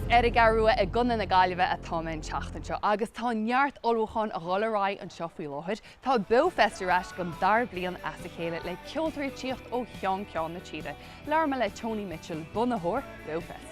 Is ar an gCeathrú Rua i gContae na Gaillimhe atá mé an tseachtain seo agus tá neart ullmhúcháin a dhul ar aghaidh anseo faoi láthair. Tá Beofest ar ais don dara bliain as a chéile le ceoltóirí ag tíocht ó cheann ceann na tíre. Labhair mé le Tony Mitchell, bunaitheoir Beofest.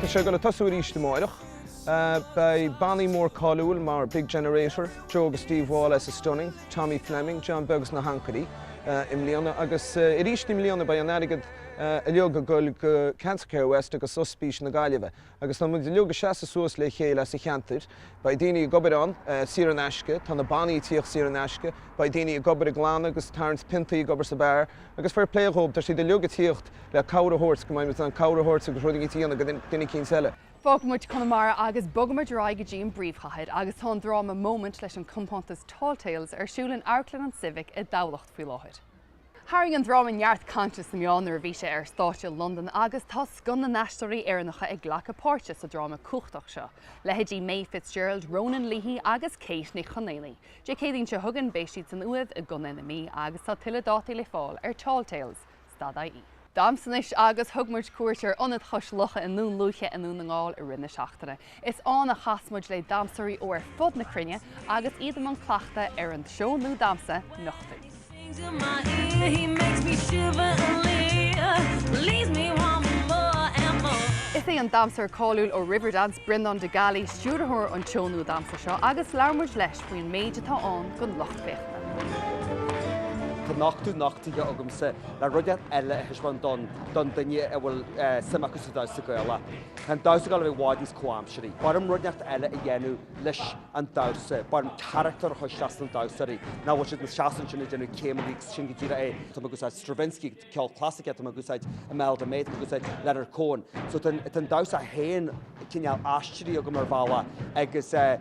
Tá sé ag dul ag tosú arís amáireach. Beidh bannaí mór cáiliúil mar Big Generator, Joe agus Steve Wall as The Stunning, Tommy Fleming, John Beag agus na hAncairí i mbliana agus arís i mbliana beidh an airgead uilig ag dul go Cancer Care West agus Ospís na Gaillimhe. Agus tá muid uilig ag seasamh suas le chéile ar son an cheantair. Beidh daoine ag obair ann saor in aisce, tá na bannaí ag tíocht saor in aisce, beidh daoine ag obair ag glanadh agus ag tarraingt piontaí ag obair sa bheár agus fair play dhóibh tá siad uilig ag tíocht le cabhair a thabhairt go mbeidh muid in ann cabhair a thabhairt agus rud eicínt a dhéanamh go duine eicínt eile. Fágfaidh muid Conamara agus bogfaidh muid ar aghaidh go dtí an bpríomhchathair agus tá an dráma Moment leis an compántas Tall Tales ar siúl in Amharclann an Civic i dTamhlacht faoi láthair. Tharraing an dráma neart cainte sna meáin nuair a bhí sé ar stáitse i Londain agus tá scoth na n-aisteoirí Éireannacha ag glacadh páirte sa dráma cumhachtach seo, leithéidí Maeve Fitzgerald, Ronan Leahy agus Kate Nic Chonaonaigh. Dé Céadaoin seo chugainn beidh siad san Uaimh i gContae na Mí agus tá tuilleadh dátaí le fáil ar Tall Tales. Stad IE. Damhsa anois agus thug muid cuairt ar Ionad Chois Locha i nDún Lúiche i nDún na nGall i rith na seachtaine. Is ann a chas muid le damhsóirí ó ar fud na cruinne agus iad i mbun cleachta ar an seó nua damhsa, Nochtú. Is é an damhsóir cáiliúil ó Riverdance, Breandán de Gallaí, stiúrthóir an tseó nua damhsa seo agus labhair muid leis faoin méid atá ann don lucht féachana. Tá nochtadh nochtaithe agamsa le rud inteacht eile a thaispeáin don don duine a bhfuil suim acu sa damhsa Gaelach. Tá an damhsa Gaelach i bhfad níos comhaimsearthaí. B'fhearr liom rud inteacht eile a dhéanamh leis an damhsa, b'fhearr liom carachtar a chur isteach sna damhsóirí nach bhfuil siad ina seasamh ansin ag déanamh céimeanna agus sin go díreach é. Tá mé ag úsáid Stravinsky. ceol clasaiceach, tá mé ag úsáid Imelda May, tá mé ag úsáid Leonard Cohen. So tá an, tá an damhsa féin cineál aistrithe agam ar bhealach agus eh,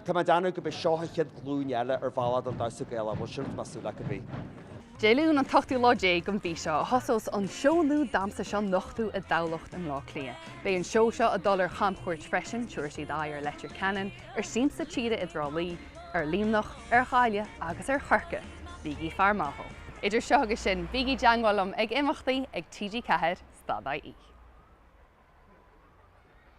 tá mé ag déanamh go mbeidh seo an chéad ghlúin eile ar bhealach don damhsa Gaelach, bhuel sin atá mé ag súil leis cibé. Dé Luain an t-ochtú lá déag den mhí seo a thosós an seó nua damhsa seo Nochtú i dTamhlacht i mBlá Cliath. Beidh an seó seo ag dul ar chamchuairt freisin, tabharfaidh siad aghaidh ar Leitir Ceanainn, ar Siamsa Tíre i dTrá Lí, ar Luimneach, ar Ghaillimh agus ar Chorcaigh, bígí ag faire amach dó! Idir seo agus sin, bígí i dteangmháil liom ag imeachtaí ag TG4, stad-IE.